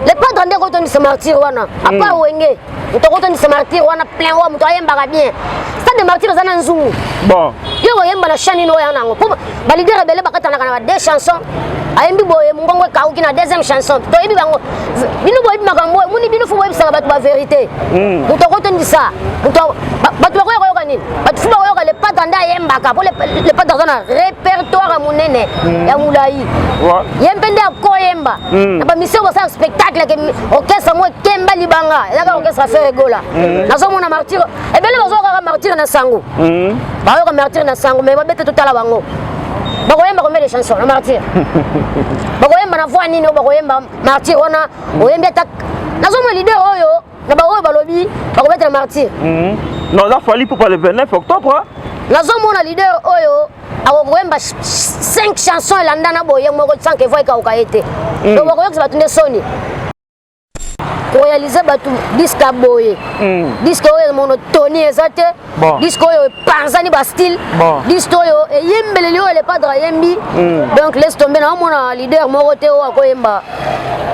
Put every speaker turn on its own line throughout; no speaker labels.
le padre nde kotondisa martyr wana apa mm. wenge moto akotondisa martyr wana plein wa moto ayembaka bien stade de martyr eza na nzungu bon yo
koyemba na
chanine oyo yana yango mpo balidere ebele bakatanaka na ba deux chansons ayembi boye mongongo ekauki na deuxième chanson toyebi bango bino boyebi makambo oyo moni bino fo boyebisaka bato baverité hmm. moto akotondisa moto bato bakoya koyoka nini bato fo bakoyoka lepata nde ayembaka mpo lepata aza na répertoire monene hmm. ya molai ye mpe nde akoyemba mm. na bamisio kosala spectacle ke orchestre mo ekemba libanga ezaka mm. orchestre affaire egola mm. nazomona martire ebele bazoka kaka martire na sango bayoka martire na sango mai babete totala bango bakoyemba combien de chanson na martyr bakoyemba na voix nini oyo bakoyemba martyr wana oyembi ata nazomona leader oyo na baoyo balobi bakobetela martyr mhm. na oza
fali pupa le 29 octobre nazomona
leader oyo akokoyemba 5 chanson elandana boye moko sanke voi ekauka ye te mm. donc bakoyokisa bato nde soni korealize bato diske boye mm. diske oyo monotonie eza te bon. disque oyo epanzani ba style bon. disque oyo eyembeleli oyo le padre ayembi mm. donc laisse tomber na omona leader moko te oyo akoyemba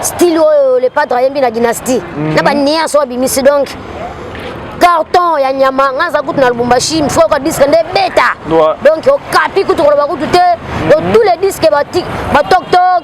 style oyo le padre ayembi na dynastie mm. na baniance oyo abimisi donc carton ya nyama nga aza kutu na lubumbashi mifo yoka disque nde ebeta donc okapi kutu koloba kutu te donc mm. tous les disques batoktok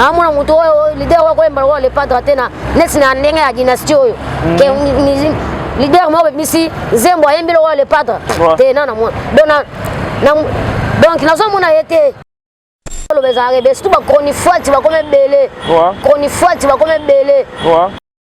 naamona moto oyo lider oyo koyemba lokola le padre te na neti na ndenge ya dynastie oyo mm. lider moko bebimisi nzembo ayembi lokola le padre te na namona donc nazomona ye te oloba ezalaka ebe surtout bachronifuati bakoma ebele chronifuati bakoma ebele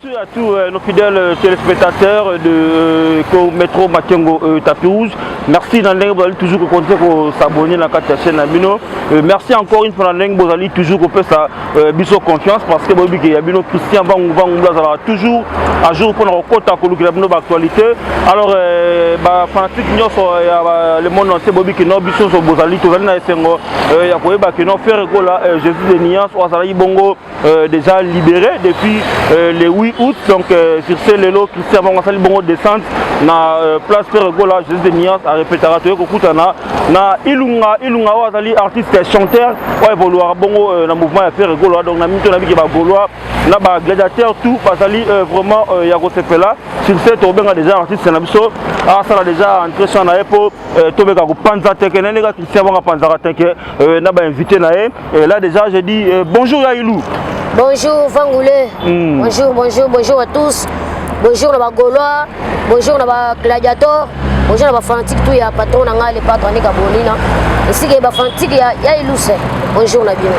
Merci à tous
euh, nos fidèles euh, téléspectateurs de euh, Metro Makengo euh, Tapis Rouge. Merci Nandeng Bozali toujours que continuer ko s'abonner na carte chaîne na bino. Euh, merci encore une fois Nandeng Bozali toujours ko pesa euh, biso confiance parce que bobi que ya bino Christian Bangu Bangu Blazala toujours à jour pour na kota ko lukela bino ba actualité. Alors euh, ba fanatique nyoso euh, ya ba, le monde entier bobi que no biso so Bozali tozali na esengo euh, ya koyeba que no faire gola euh, Jésus de Niance ou azali bongo Euh, déjà libéré depuis euh, le 8 août. Donc, euh, sur ce, Lelo, Christian Bangasali Bongo descente na euh, place Père Gola, Jésus de Mias, à répéter à Toyoko Koutana, na Ilunga, Ilunga Wazali, artiste, chanteur, ouais, évoluer Bongo, euh, na mouvement à Père Gola, donc na Mito Nabi Keba Golois, na ba gladiateur, tout, Bazali, euh, vraiment, euh, Yago Sepela, sur ce, Tobenga déjà artiste, na Bisso, ah, ça l'a déjà entré sur na Epo, euh, Tobeka Panza Teke, Nenega Christian Bangapanza Teke, euh, na ba invité na Et là déjà j'ai dit euh, bonjour ya Ilou. Bonjour
Vangoulé. Mm. Bonjour, bonjour, bonjour à tous. Bonjour na ba Gaulois, bonjour na ba Gladiator, bonjour na ba fanatique tout ya patron na ngai le patron ni Gabolina. Ici que ba fanatique ya ya Ilou c'est. Bonjour na bien.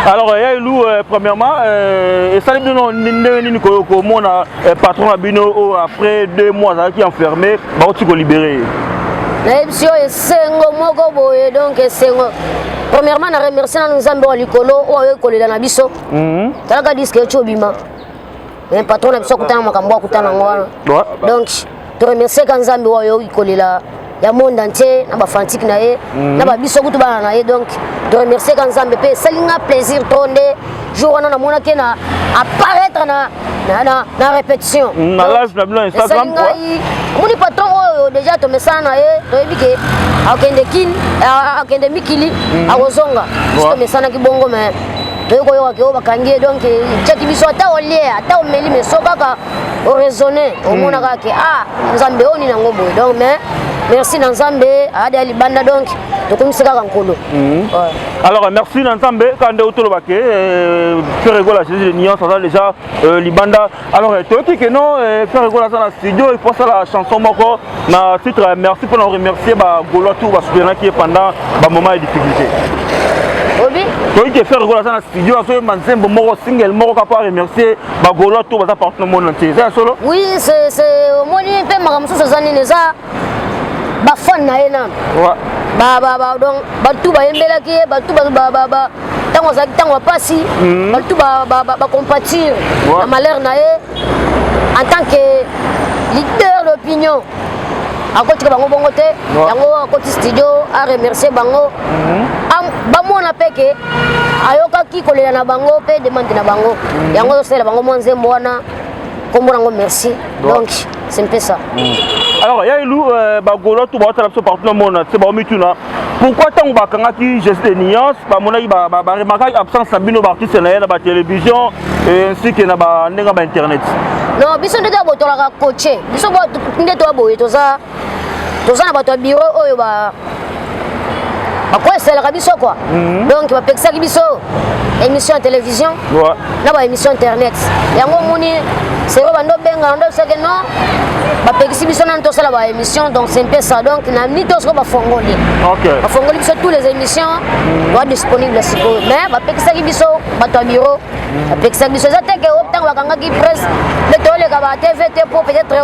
Alors euh, ya
Ilou euh, premièrement euh, et salut de non ndenge nini ko ko mona eh, patron na bino oyo oh, après deux mois azalaki enfermé bakuti kolibere ye nayebisi
yo esengo moko boye donc esengo premièrement na remercie nanu nzambe wa likolo oyo ayoki kolela na biso mhm. talaka diske eti obima patron na biso akutana makambo akutana yango wana donc to remercier ka nzambe oyo oyoki kolela ya monde entier na bafantique na ye mhm. na babiso kutu bana na ye donc to remercier ka nzambe mpe esali nga plaisir to nde jour wana namonaki na apparaître na na, na, na répétition mm, na lage na bino
instagram ngai omoni patron
oyo déjà tomesana na ye toyebi ke akende kin akende mikili mm. akozonga biso tomesanaki bongo mais toyei koyoka ke oyo bakangi ye donc etyaki biso ata olie ata omeli meso kaka o raisonner omona kaka ke ah nzambe oyo nini yango boye donc mais merci na nzambe ayada ya libanda donc tokomisi kaka nkolo mhm. alors
merci na nzambe kaka nde otoloba ke frère egola jésus de nuance aza déjà euh, libanda alors euh, toyoki ke non euh, frère egola aza na studio il faut asala chanson moko na titre ya merci mpo na koremercier bagolois tour basoutenaki ye pendant bamoment ya difficulté
toyei te faire
gola aza na studio azoyemba nzembo moko single moko kaka mpo aremercier bagolois tour baza partout na monde entier eza ya solo oui
omoni mpe makambo mosusu eza nini eza bafane na ye nano donc bato bayembelaki ye bato ntango azalaki ntango ya mpasi bato bacompatir na malheur na ye en tant que leader d'opinion akotika bango bongo te yango akoti studio a remercier bango mhm. bamona mpe ke ayokaki kolela na bango mpe demande na bango mhm. yango azosalela bango mwa nzembo wana nkombo nango merci donc c'est mpe ça mhm. alors ya
elu euh, bagolo to baotala biso partout na mona te baomituna pourquoi ntango bakangaki jesus de nuance bamonaki baremarkaki absence na bino baartiste na ye na batelevision ainsi ke na ndenge ya bainternet non biso nde toya
botolaka coache biso nde toya boye toza toza na bato ya biro oyo ba bakoeselaka biso kua mhm. donc bapekisaki biso émission ya télévision na ba émission internet yango omoni seko bando obengana ndo bisake no bapekisi biso nani tosala ba émission donc c'est mpe ça donc na mini to sikoyo bafongoli bafongoli biso tous les émissions mm. oa disponible sikoyo mais bapekisaki biso bato ya bureau mm. bapekisaki biso eza te ke ntango bakangaki presse nde toleka ba tv te po peut-être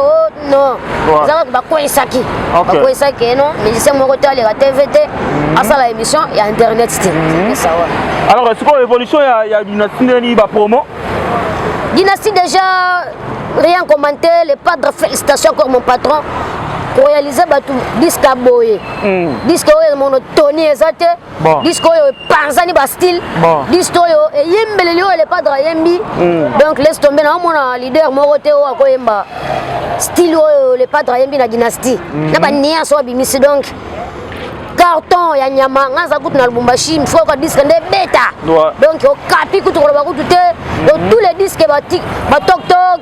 non eza kaka bakweisaki bakweisaki eno musicien moko te aleka tv te mhm. asala émission ya internet te mhm. alors sikoyo évolution
ya dynastie ndeni bapromo
dynastie déjà rien commenté le padre félicitation encore mon patron korealize bato diske aboye hmm. diske oyo mono toni eza te bon. disque oyo epanzani ba style bon. disque oyo eyembeleli oyo le padre ayembi mm. donc laisse tomber na omona leader moko te oyo akoyemba style oyo le padre ayembi na dynastie mm. na baniance oyo abimisi donc carton ya nyama nga aza kutu na lubumbashi mifo yoka diske nde ebeta donc okapi kutu koloba kutu te donc mm. tous les disques batoktok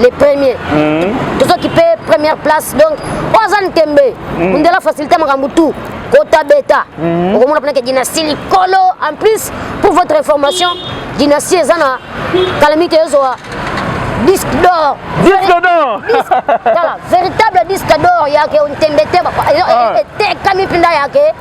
le premier mm. tozokipe première place donc oyo aza ntembe mm. mundela facilité makambo tout kota beta mm. okomona mpenake dynastie likolo en plus pour votre information dynastie eza na kalamite ezwa disque d'or disque d'or tala véritable disque d'or yake ntembe te etekami mpenza yake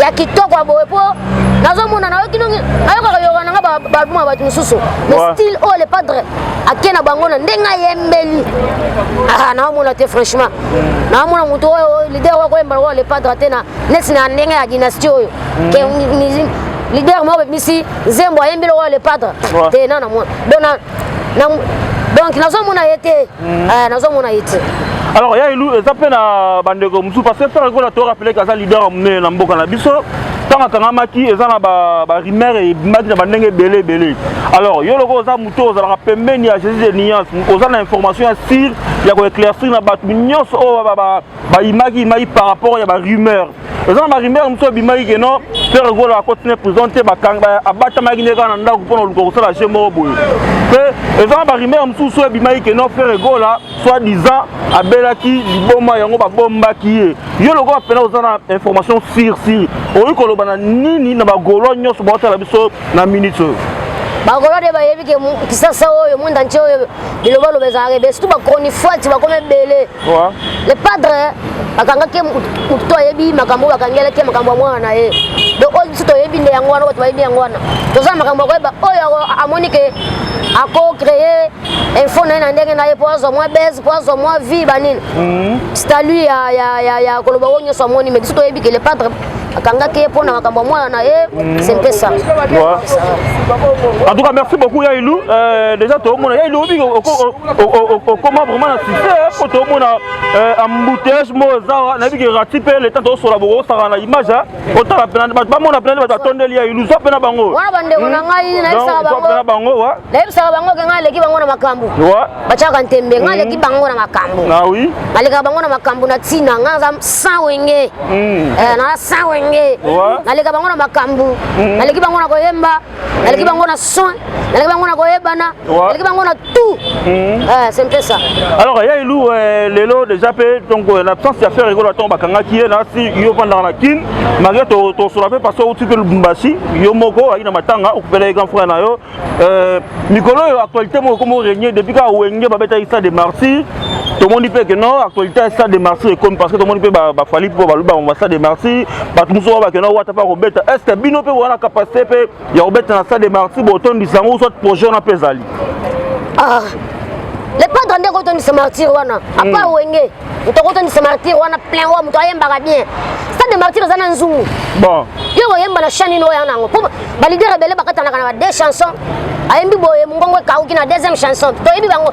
ya kitoko ya boye mpo nazomona nayoki ndongi nayokaka yoka na nga baalbum ya bato mosusu mais style oyo le padre ake na bango na ndenge ayembeli ah, naomona te franchement naomona moto oyo lider oyo koyemba lokola le padre te na neti na ndenge ya dynastie oyo mm. lider moko bebimisi nzembo ayembi lokola le padre te na na mwana donc na donc nazomona ye te mm. eh, nazomona ye te alors ya elu
eza mpe na bandeko mosusu parce que frère ekola torapeleke aza leader ya monene na mboka na biso ntango akangamaki eza na barimere ebimaki na bandenge ebele ebele alors yo loko oza moto ozalaka pembeni ya jésus de nuance oza na information ya sire ya koeclaircir na bato nyonso oyo bayimaki yimaki par rapport ya barumeur eza na barumeur mosusu ebimaki keno pere gola akoti na prison te abatamaki nde kaka na ndako mpo na oluka kosala je moko boye mpe eza na barumeur mosusu oyo ebimaki keno pere gola soit disant abelaki liboma yango babombaki ye yo lokola mpena oza na information sir sir okoki koloba na nini na bagolo nyonso baotala biso na minute oyo bakolo nde
bayebi ke kisasa oyo monde entier oyo bilobaloba ezalaka ebe surtout bachronifuati bakoma ebele Pourquoi? Le padre bakangaki motu to ayebi makambo bakangelaki makambo ya mwana na ye donc oyo biso toyebi nde yango wana bato bayebi yango wana toza na makambo ya koyeba oyo amoni ke ako créer info na ye na ndenge na ye mpo azwa mwa base mpo azwa mwa vie banini mhm. statut ya koloba oyo nyonso amoni mais biso toyebi ke le padre akangaki ye mpo na makambo ya mwana na ye mm. sempesa en
tout cas merci beaucoup ya ilu euh, déjà toomona ya ilu obiki okoma vraiment na succès mpo toomona euh, embouteillage mo ozawa nayebi ke rati mpe leta toosola bokosaka na image otala pena bato bamona pena nde bato batondeli ya ilu zwa pena bango wana bandeko
na hmm. ngai nayebisaka bango nayebisaka
bango ke ngai
aleki bango na makambo batiaka
ntembe ngai
aleki bango na makambo nalekaka
bango na makambo
na ntina ngai naza sans wenge naza sans wenge naleka bango na makambo naleki bango na koyemba naleki bango na soin naleki bango na koyebana naleki bango na tout c'est mpe ça alors ya elu
lelo déjà mpe donc na absence ya faire ekolo ntango bakangaki ye nasi yo vandaka na kin malgré tosola mpe parce que outi mpe lubumbashi yo moko oaki na matanga okupela ye grand frère na yo Euh, mikolo oyo actualité moko ekomi orenie depuis kaka wenge babetaki stade de martyr tomoni mpe keno actualité ya stade de martyr ekomi parce que tomoni mpe bafali mpo balobi bango stade de martyr bato mosusu oyo bakeno wata mpe akobeta est ce que bino mpe bowana capacité mpe ya kobeta na stade de martyr botondisa yango soit projet wana mpe ezali ah,
le padre nde kotondisa martyr wana apa hmm. wenge moto akotonisa martyr wana plein oyo moto ayembaka bien stade de martyr eza na nzungu bon yo
koyemba na
chanine oyo yanango mpo balidere ebele bakatanaka na ba deux chansons ayembi boye mongongo ekauki na deuxième chanson toyebi bango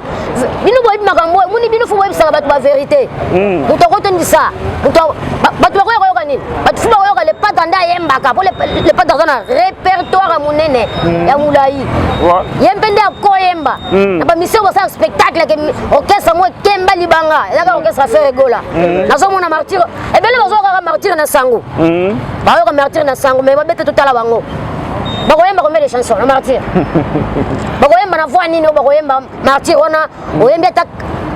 bino boyebi makambo oyo moni bino fo boyebisaka bato baverité hmm. moto akotondisa moto bato bakoya koyoka nini bato fo bakoyoka lepata nde ayembaka mpo lepata aza na répertoire ya monene hmm. ya molai ye mpe nde akoyemba hmm. na bamisio basala spectacle orchestre yango ekemba libanga eza kaka orchestre affaire egola mhm. nazomona martire ebele bazoya kaka martire na sango mhm. bayoka martire na sango mai babete totala bango bakoyemba combien de chanson na martire bakoyemba na voi nini oyo bakoyemba martire wana oyembi ata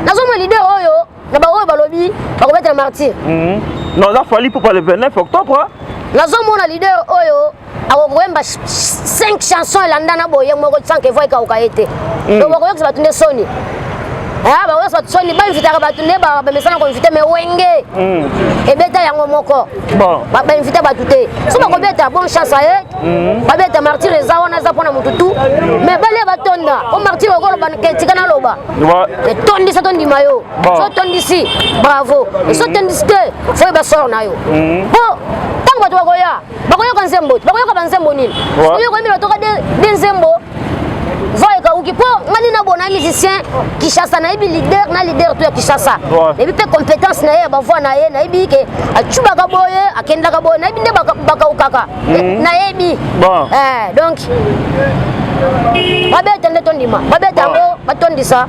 nazomona lider oyo na baoyo balobi bakobetela martire mhm. non eza
fali popa le 29 octobre nazomona
lider oyo akokoyemba 5 chanson elandana boye moko sans que voix ekauka ye te mm. donc bakoyokisa bato nde soni ah, bakoyokisa bato soni bainvitaka bato nde bamesana koinvite me wenge mm. ebeta yango moko bainvite
bato te
so bakobeta bon chance aye mm. babeta martire eza wana eza mpona motu tu mais balia batonda o martire okoloba tika naloba etondisa tondima yo so tondisi bravo so tondisi te foyeba sor na yo po ntango bato bakoya bakoyoka nzembo te bakoyoka banzembo nini oyoka yemela toka de nzembo zwa ekauki mpo ngani na bona musicien kinshasa nayebi leader na leader to ya kinshasa nayebi mpe compétence na ye ya bavoi na ye nayebi ke acubaka boye akendaka boye nayebi nde bakaukaka mhm. nayebi eh, donc babeta nde tondima babeta yango batondisa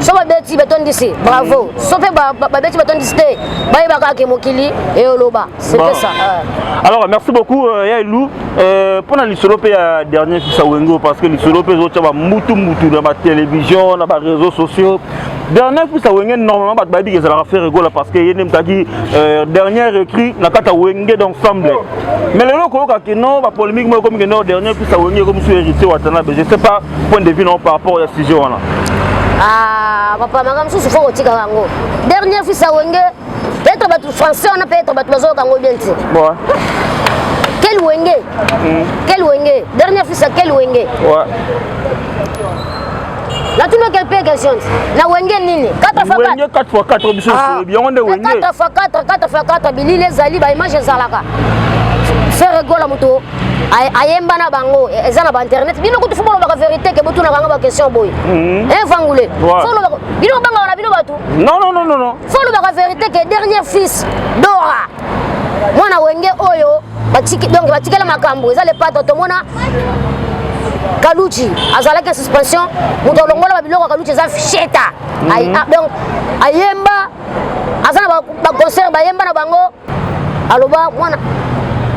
so babeti batondisi bravo so mpe babeti batondisi te bayebaka ake mokili eyoloba C'était ça. Alors merci
beaucoup euh, ya Elou. Euh, pona lisolo pe ya dernier fisa Wengo parce que lisolo pe zo tshaba mutu mutu na ba télévision, na ba réseaux sociaux. Dernier fisa Wengo normalement bat babi que ça la faire gola parce que yene mtaki euh, dernier écrit na kata Wengo d'ensemble. Mais le loko ka que non ba polémique moi comme que non dernier fisa Wengo comme sur héritier Watanabe. Je sais pas point de vue non par rapport à sujet wana. Ah
papa makambo susu faut kotika yango. Dernier fisa Wengo Peut-être bato français wana peut-être bato bazoyoka yango bien te. Bon. Quel Wenge mm. Quel Wenge Dernier fils à quel Wenge
Ouais.
La tuna quelle paix question La Wenge nini 4 fois 4 Wenge 4 fois 4
biso ah. bien on est Wenge 4 fois 4 4 fois
4 bili les ali ba image ezalaka Ferre Gola moto ayemba na bango e, eza na ba internet bino kutu fo bolobaka vérité ke botunaka nga ba question boye mm. evangule eh, fo olobaka bino obangaka na bino bato non non non non fo
lobaka verité
ke dernier fils dora mwana wenge oyo donc batikela makambo eza lepatre tomona kaluchi azalaki na suspension moto alongola babiloko ya kaluchi eza sheta mhm. ah, donc ayemba aza na baconcert bayemba na bango aloba mwana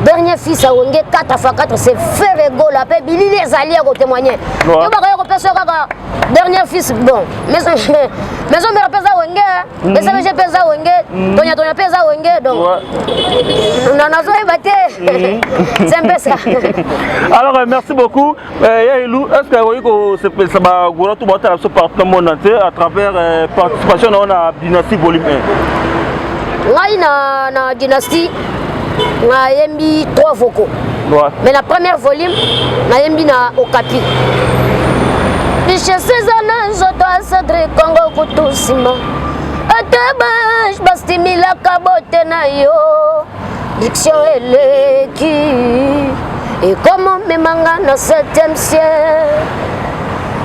dernier fils awenge 4 fois 4 c'est ferre gola mpe bilili ezali ya kotemoigne yo bakoya kopesa yo kaka dernier fils bon maison mère mpe eza wenge mhm. esabege mpe eza wenge mhm. tonyatonya mpe eza wenge donc nazoyeba te mhm. c'est mpe ça alors euh,
merci beaucoup Eh, ya elu est ce que akoki kosepelisa bagora to baotala biso partout na monde entier à travers eh, participation na yo na dynastie volume 1 ngai na,
na dynastie nayembi 3 vocaux ouais. mais na première volume nayembi na okapi richesse eza na nzoto asadre kongo kutu nsima ata bastimilaka bote na yo Diction eleki ekomi omema nga na 7e siècle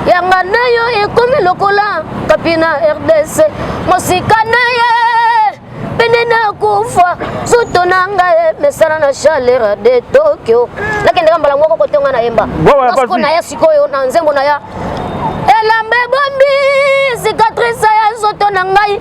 yanga na yo ekomi lokola kapi na rdc mosika na ye pene na kufa zoto na ngai emesana na chaleur de tokyo nakendaka mbala moko kotonga na yemba osiko na ya sikoyo na nzembo na ya elamba ebombi cicatrice ya zoto na ngai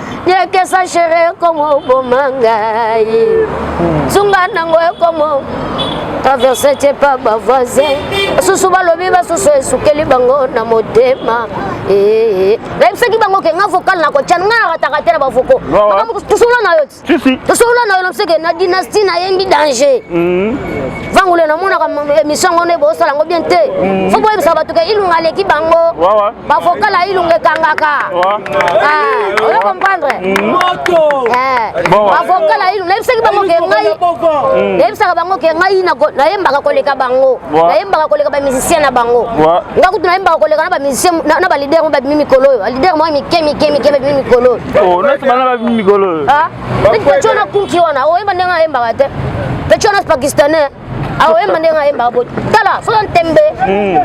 yekesa shere ekoma oboma ngai zunga nango ekoma traverse te pa bavoisin basusu balobi basusu esukeli bango na motema eh, eh. nayebisaki bango ke nga vocal na kotya nga nakataka te na bavoko tosolola na yo tosolola na yo na mseke na dynastie nayendi danger hmm. vangule namonaka émission yango nde bosala yango bien te mm. fo boyebisaka bato ke ilunga aleki bango bavokala ilunga ekangaka ah, oyo comprendre mm. eh. bavokala ilunga nayebisaki bango ke ngai mm. nayebisaka bango ke ngai nayembaka koleka bango nayembaka koleka bamusicien na bango nga kutu nayembaka koleka na bamusicien na balider mo babimi mikolo oyo balider mo mike mike mike babimi mikolo oyo
oh, Pete pete wana
kunki wana oyeba ndenge ayembaka te. Pete wana pakistanais aoyemba ndenge ayembaka boye tala soki ntembe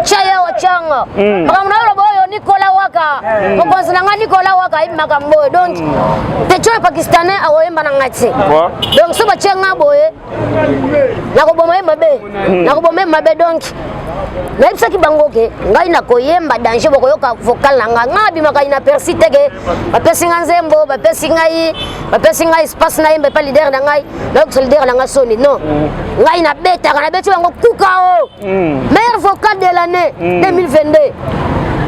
tya hmm. ye otyanga hmm. makambo na yo loba oyo nikola waka hmm. mokonzi na ngai nikola waka ayebi makambo oyo donc petion ya pakistanais akoyemba na ngai te donc so batye ngai boye nakoboma ye mabe hmm. nakoboma ye mabe donc nayebisaki bango ke ngai nakoyemba danger bokoyoka vocal na ngai ngai abimakai na persi te ke bapesi ngai nzembo bapesi ngai bapesi ngai espace nayemba epa lider na ngai nayokisa lider na ngai soni non hmm. ngai nabetaka nabeti bango kuka o oh. mm. meilleur vocal de l'année mm. 2022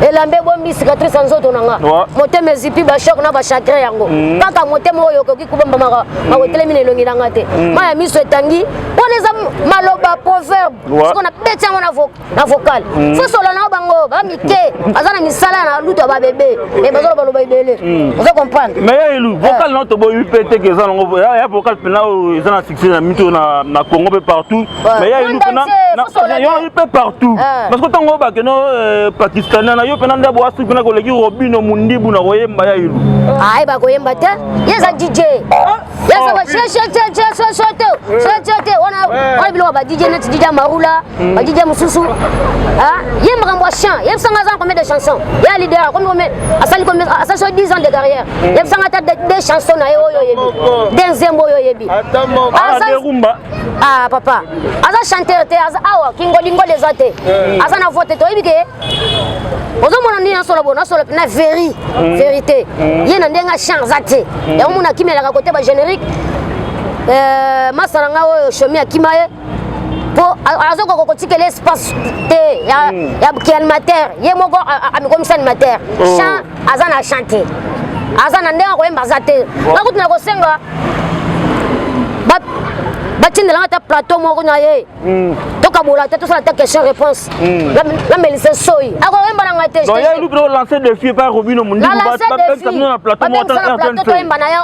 elamba ebombi cicatrice ya nzoto na nga motema ezipi bashok na bachagrin yango mm. kaka motema oyo okoki kobombamaka makotelemi na elongi na nga te mm. mai ya miso etangi mpona eza maloba proverbe siko na beti yango na vocal mm. sosola na bango bamike baza na misala na lutu ya babebe e bazoloba loba ebele ozo comprendre mais ya elu eh. vocal
na toboyi mpe teke eza nango ya vocal mpena oyo eza na succès na mito na congo mpe partout mais ya inu pena yo ayi mpe partout ah. parce que ntango oyo bakeno euh, pakistanais na yo mpena nde boasi mpena koleki robino mundibu na koyemba ya inu ayi ah, bakoyemba
te ye eza dj ah. yesosososososososote wana wana biloko ba dj neti dj marula hmm. ba dj mosusu ye makambo ya chant yebisanga aza na combien de chanson ya leader asali asali so 10 ans de carrière hmm. yebisanga ata de chanson na ye oyo oyebi de nzembo oyo oyebi
ah papa
aza chanteur te aza awa kingolingola eza te eh. aza na vote toyebi ke ozomona nini nasolo bo nasolo na veri mm. verité mm. ye na ndenge achan aza te mm. yango mona akimelaka kote ba générique eh, masa na ngai oyo shomi akima ye mpo azokoka kotikela espace te ya kianimateur ye moko amikomisa animateur oh. chan aza na chant te aza na ndenge akoyemba aza te nga kutu na kosenga batindela nga ata plateau moko na ye hmm. tokabola te tosala ta question réponse namelise hmm. soyi akoyemba na ngai telancer
défi epai robino mondikobino
plateau toyemba na ye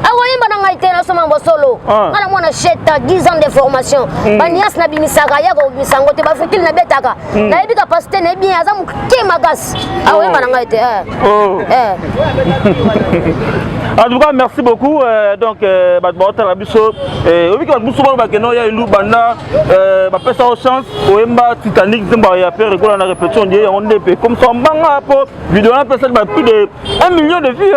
akoyemba na ngai te nasoma bosolo ah. nga na mwana sheta 10 ans de formation hmm. banias nabimisaka ye akobimisa yango te bafutile nabetaka nayebi kapasité nayebi aza moke makasi akoyeba ah, na ngai te eh. oh. eh.
en tout cas merci beaucoup euh, donc euh, bato baotala biso euh, oyebiki bato mosusu bano bakenda oya elu banda bapesa yo chance oyemba titanic nzembo ya pere ekola na répétition die yango nde mpe comme ça mbanga mpo video wana apesaki ba plus de 1 million de vues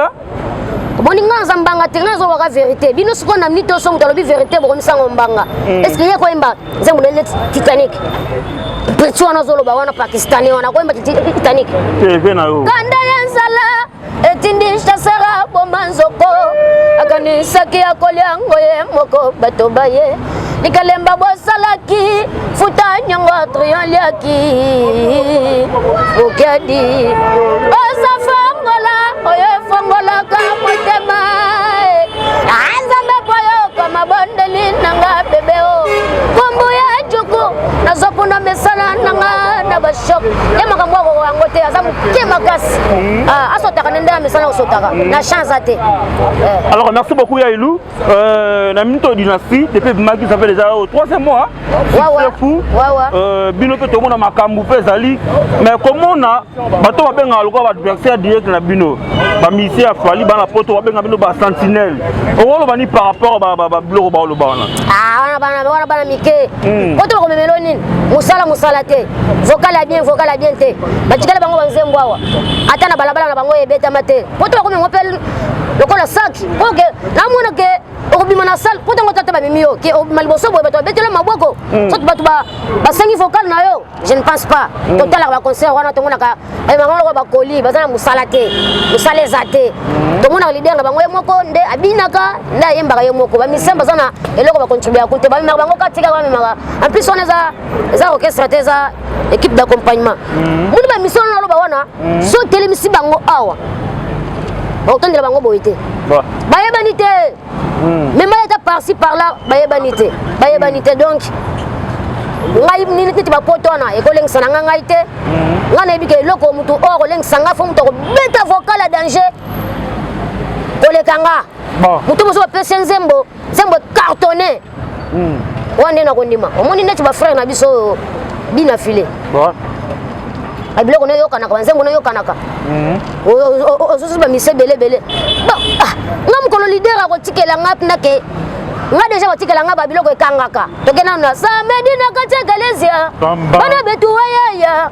boni nga
naza mbanga te nga nazobaka verité bino sikoyo na minute oso moto alobi verité bokomisango mbanga mm. estce ye koyemba nzembo nele titanic prince wana azoloba wana pakistanais wana koyemba titanic
kanda ya nzala
etindi chasera boma nzoko akanisaki akolya yango ye moko bato baye likalemba bosalaki futa nyongo trioliaki okedi oza fongola oyo efongolaka motema anzambe mpo yoka mabondeli nanga bebe o kombo ya juku nazokuna misala nanga na bashok ye makambo akoko yango te aza moke makasi hmm. ah, asotaka nde nde na misala kosotaka na champ aza te eh. alors
merci beaucoup ya elu Euh, na minute oyo dynastie depuis ebimaki ça fait déjà oyo oh, troisième mois succès fou euh, bino mpe tomona makambo mpe ezali mais komona bato babengaka lokola baadversaire direct na bino bamisie ya fali bana poto babenga bino basentinelle okoloba ni par rapport babiloko baoloba wana ah, wana
bana mike hmm. poto bakomemelo nini mosala mosala te vocal ya bien vocal ya bien te batikala bango banzembo awa ata na balabala na bango ebetama te poto bakomi yango mpe lokola saki mpo ke namona ke okobima na sale mpo ntango tata bamemi yo ke obima liboso boye bato babetela maboko mm. soki bato basengi vocal na yo je ne pense pas mm. totalaka baconcert wana tomonaka bango loko bakoli baza na mosala te mosala eza te mm. tomonaka lider na bango ye moko nde abinaka nde ayembaka ye moko bamisien baza na eloko bacontribuaka te bamemaka bango katika bamemaka en plus wana eza orchestre te eza equipe d'accompagnement mm. moni bamisio wana naloba wana mm. so otelemisi bango awa bakotondela bango boye te bayebani te mm. mema ata parci par là bayebani te bayebani te donc ngai neti bapoto wana ekolengisa na ngai ngai te ngai nayebi ke eloko motu oyo akolengisa ngai fo motu akobeta vocal ya danger koleka nga motu mosusu bapesi nzembo nzembo cartonne hmm. wana nde nakondima omoni neti bafrère na biso oyo bina file biloko noyokanaka banzembo noyokanaka mhm. osusu bamisi ebele ebele ah, nga mokolo lider akotikela nga mpena ke nga deja batikela nga babiloko ekangaka toke nano na samedi na kati ya galesia bana betuwayaya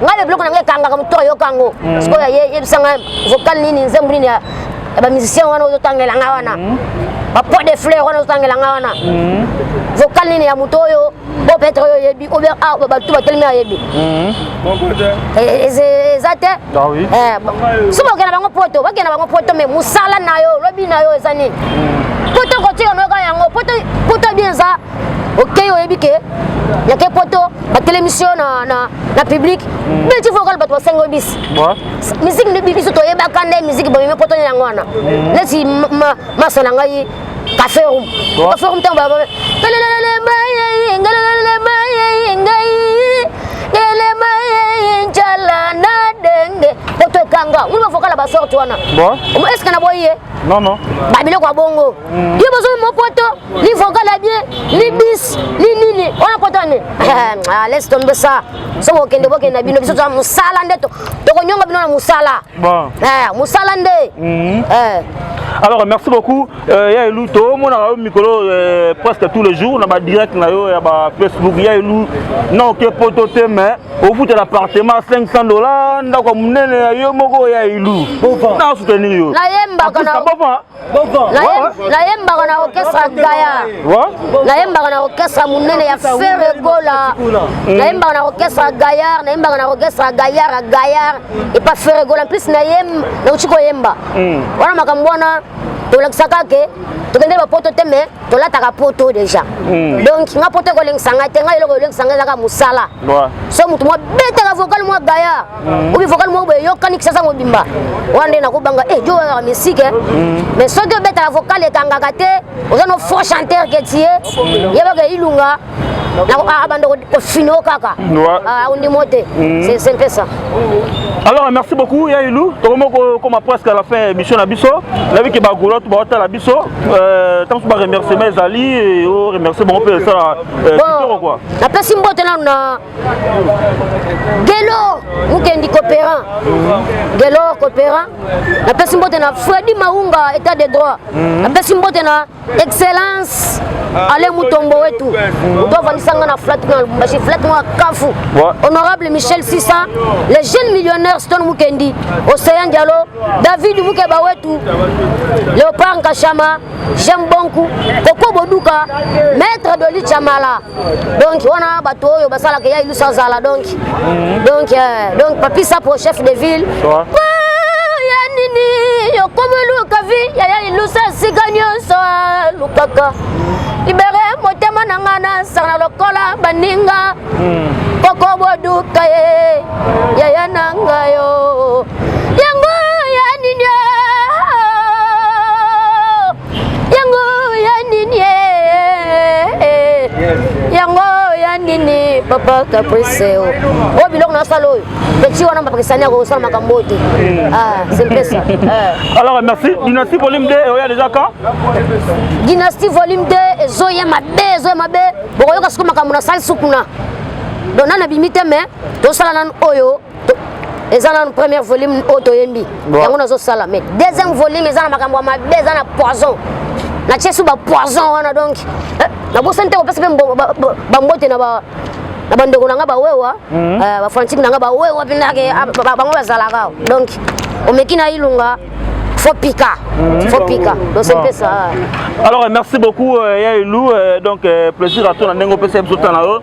ngai mpe biloko na ngai ekangaka moto ayoka yango mhm. sikoyo yebisa ngai vocal nini nzembo nini ya bamusicien wana ozotangela ngai wana mhm. bapoi de fleur wana ozotangela ngai wana mhm. vocal nini ya moto oyo o peut-être oyo oyebi ou bien ah, bato batelemi ayebi eh, eza te ah eh, soki bakenda bango poto bakenda bango poto me mosala na yo lobi na yo eza nini poto kotika noyoka yango poto bien eza okei oyebi ke yake poto batelemisi yo na, na, na publike mm. beti fo okala bato basenga oyo bisi miziki nde biso toyebaka nde miziki bamemi poto nde yango wana mm. neti masa na ngai cafe room cafe room ntango bababe pelelele maye ngalelele maye ngai ngalele maye njala na denge poto ekanga uli bafokala basorte wana eske na boyi ye
babiloko ya bongo
yo bozomi mopoto ni vocal ya bien ni bis ni nini wana poto ane ah, laisse tombe ça soki okende bokende na bino biso toza mosala nde tokonyonga bino na mosala eh, mosala nde mhm. eh. alors
merci beaucoup euh, ya elu tomonaka yo mikolo euh, presque tous les jours na badirect na yo ya bafacebook ya elu na oke poto te mais ofutela appartement 500 dollar ndako ya monene ya yo moko ya elu na soutenir yo nayembaka
nayembaka na orchestre gaya nayembaka na orchestre monene ya fere gola mm. nayembaka na orchestre gayar nayembaka na orchestre gayar ya gayar epa fere gola plus nayemba nauti koyemba mm. wana makambo wana tolakisaka ke tokende bapoto te mais tolataka poto déjà mm. donc nga poto ekolengisa ngai te ngai eloko elengisa ngai ezaka mosala so motu mwa betaka vocal mwa gayar mm. obi vocal moko boye eyokani kisasa mobimba wana nde nakobanga e eh, jo oyaka misike eh. mm. mais soki obetaka vocal ekangaka te oza no faux chanteur ke tie mm. yebaka ilunga abanda ah, ah, kofino kaka ondimo ah, te mm. c'est mpe ça alors
merci beaucoup ya ilu tokomi kokoma presque à la fin émission na biso nayebi ke bagola to baotala biso ntango euh, mosusu baremerciement ezali o remercie bango mpe esala euh, kitoko kua napesi mbote
nanu na Gelor mukendi coopérant Gelor coopérant napesi mbote na Freddy Maunga état de droit mhm. napesi mbote na excellence ah, ale mutombo wetu moto avandisa nga na flat na lubumbashi flat na kafu honorable michel sisa le jeune millionnaire stone mukendi océan dialo david mukeba wetu léopard nkashama jean bonku koko boduka maître de lichamala donc wana bato oyo basalaka ya ilusa azala donc mhm. donc euh, donc papi sapo chef de ville ya nini yokomiluka vi yaya ilusa esika nyonso alukaka libere motema na ngai nasana lokola baninga mhm. koko boduka ye yaya na ngai yo yango ya nini yango ya nini papa caprice oyo oh, biloko nasala oyo petit wana bapakisani akosala makambo oyo te ah, sempesa eh. alors merci
dynastie volume 2 eoya déjà quand
dynastie volume 2 ezoya mabe ezoya mabe bokoyoka siko makambo nasalisi kuna donc nanu abimi te mais tosala nanu oyo eza nanu première volume oyo toyembi yango nazosala mais deuxième volume eza na makambo ya mabe eza na poison natie su bapoison wana donc eh, nabosani te kopesa mpe bambote na ba na bandeko na nga bawewa mhm. eh, bafrantique na nga bawewa mpendake ah, bango bazalaka donc omeki na ilunga faut pika mhm. faut pika tosepesa alors merci
beaucoup euh, ya elu euh, donc euh, plaisir ato na ndenge opesa biso ntango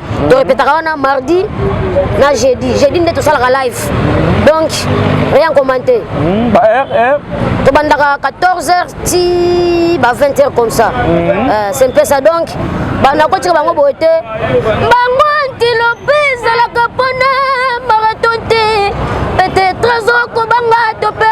to repetaka wana mardi na jeudi jeudi nde tosalaka live donc rien commenté hmm, ba heure heure tobandaka 14 heures ti ba 20 heures comme ça hmm. euh, c'est un peu ça donc banda kotika bango boye te bango antilope ezalaka mpona maraton te peut-être azokobanga to mpe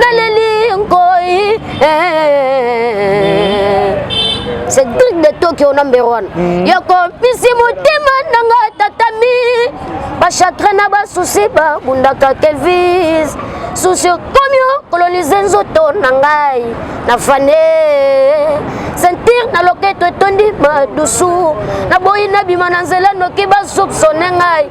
naleli nkoi cedrik de tokyo number one mm. yokompisi motema nanga tatami bachatre na basusi babundaka kelvis susi okomi okolonize nzoto na ngai na fane sentir na loketo etondi madusu naboyi nabima na nzela noki basupsone ngai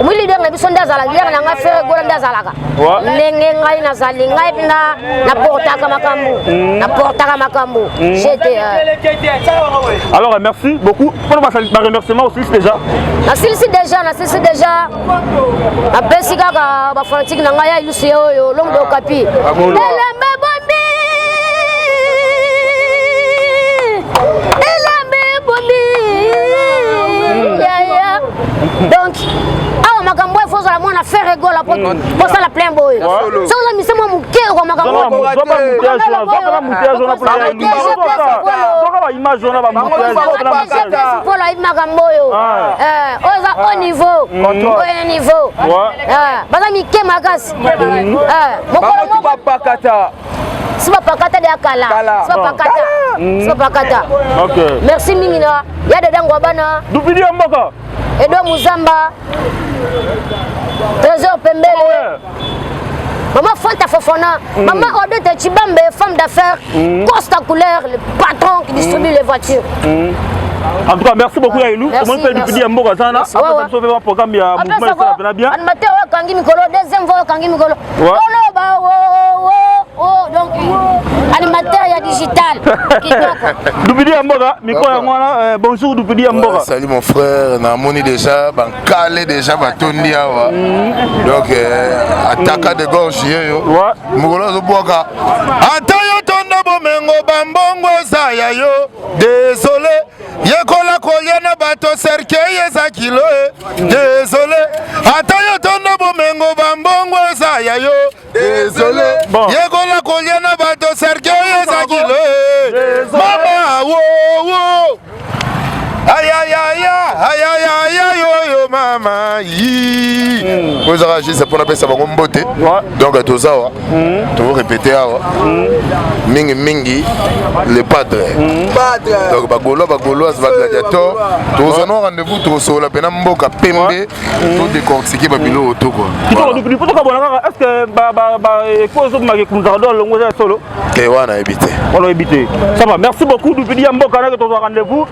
omoni leader na biso nde azala leader na ngai fere gola nde azalaka ndenge ngai nazali ngai mpe naportaka makambo hmm. naportaka makambo hmm. jete euh.
alors euh, merci beaucoup mpona baremerciement osilisi déjà nasilisi déjà nasilisi déjà napesi kaka
bafanatike na ngai ya ilusu ye oyo longo dokapi ah, elembe bombi elembe bombi hmm. donc awa makambo oyo fozala mwana fere gola po kosala plein boye soki oza mise mwa moke okwa makambo polo ayebi makambo oyo oyo eza au niveau oyo na niveau baza mike makasi mokolo moko siba pakata de akala siba pakata siba pakata merci mingi na ya dada ngwa bana dupidi ya mboka
edo muzamba
trésor pembele ah Maman Fanta Fofana, mm. maman Odette Chibambe, femme d'affaires, mm. Costa Couleur, le patron qui distribue mm. les voitures. Mm.
En tout cas, merci beaucoup ya Elou. Comment tu as dit ya mboka sana? Après ça, tu fais un programme ya mouvement ça va bien. Animateur,
kangi mikolo, deuxième voix kangi mikolo. oloba donc animateur ya digital dupidi ya
mboka mikro yango wana euh, bonjour dupidi ya mboka salut mon frère
namoni déjà bankale déjà batondi awa mm. donc euh, ataka de gorge yeyo mokolo azobwaka ata yo tonda bomengo bambongo eza ya yo désolé yekola kolia na bato serkei eza kilo e desole ata yo tondo bomengo bambongo eza ya yo desole yekola kolia na bato serkei eza kilo e mama wowo ayayaya ayayaya yoyo mama yi oyo ezaka juste mpo napesa bango mbote donc tozawa mm. to répéter awa mm. mingi mingi le padre mm. donc bagolois bagoloise euh, bagladiator tozana rendez-vous tosolola mpena mboka pembe mm. to décortique babilo oyo toko tokabola kaka
est ce que ekozomaki kumzaka do alongo eza ya solo te wana yebi te
wana yebi te
ça va merci beaucoup dupidi ya mboka nake tozwa rendez-vous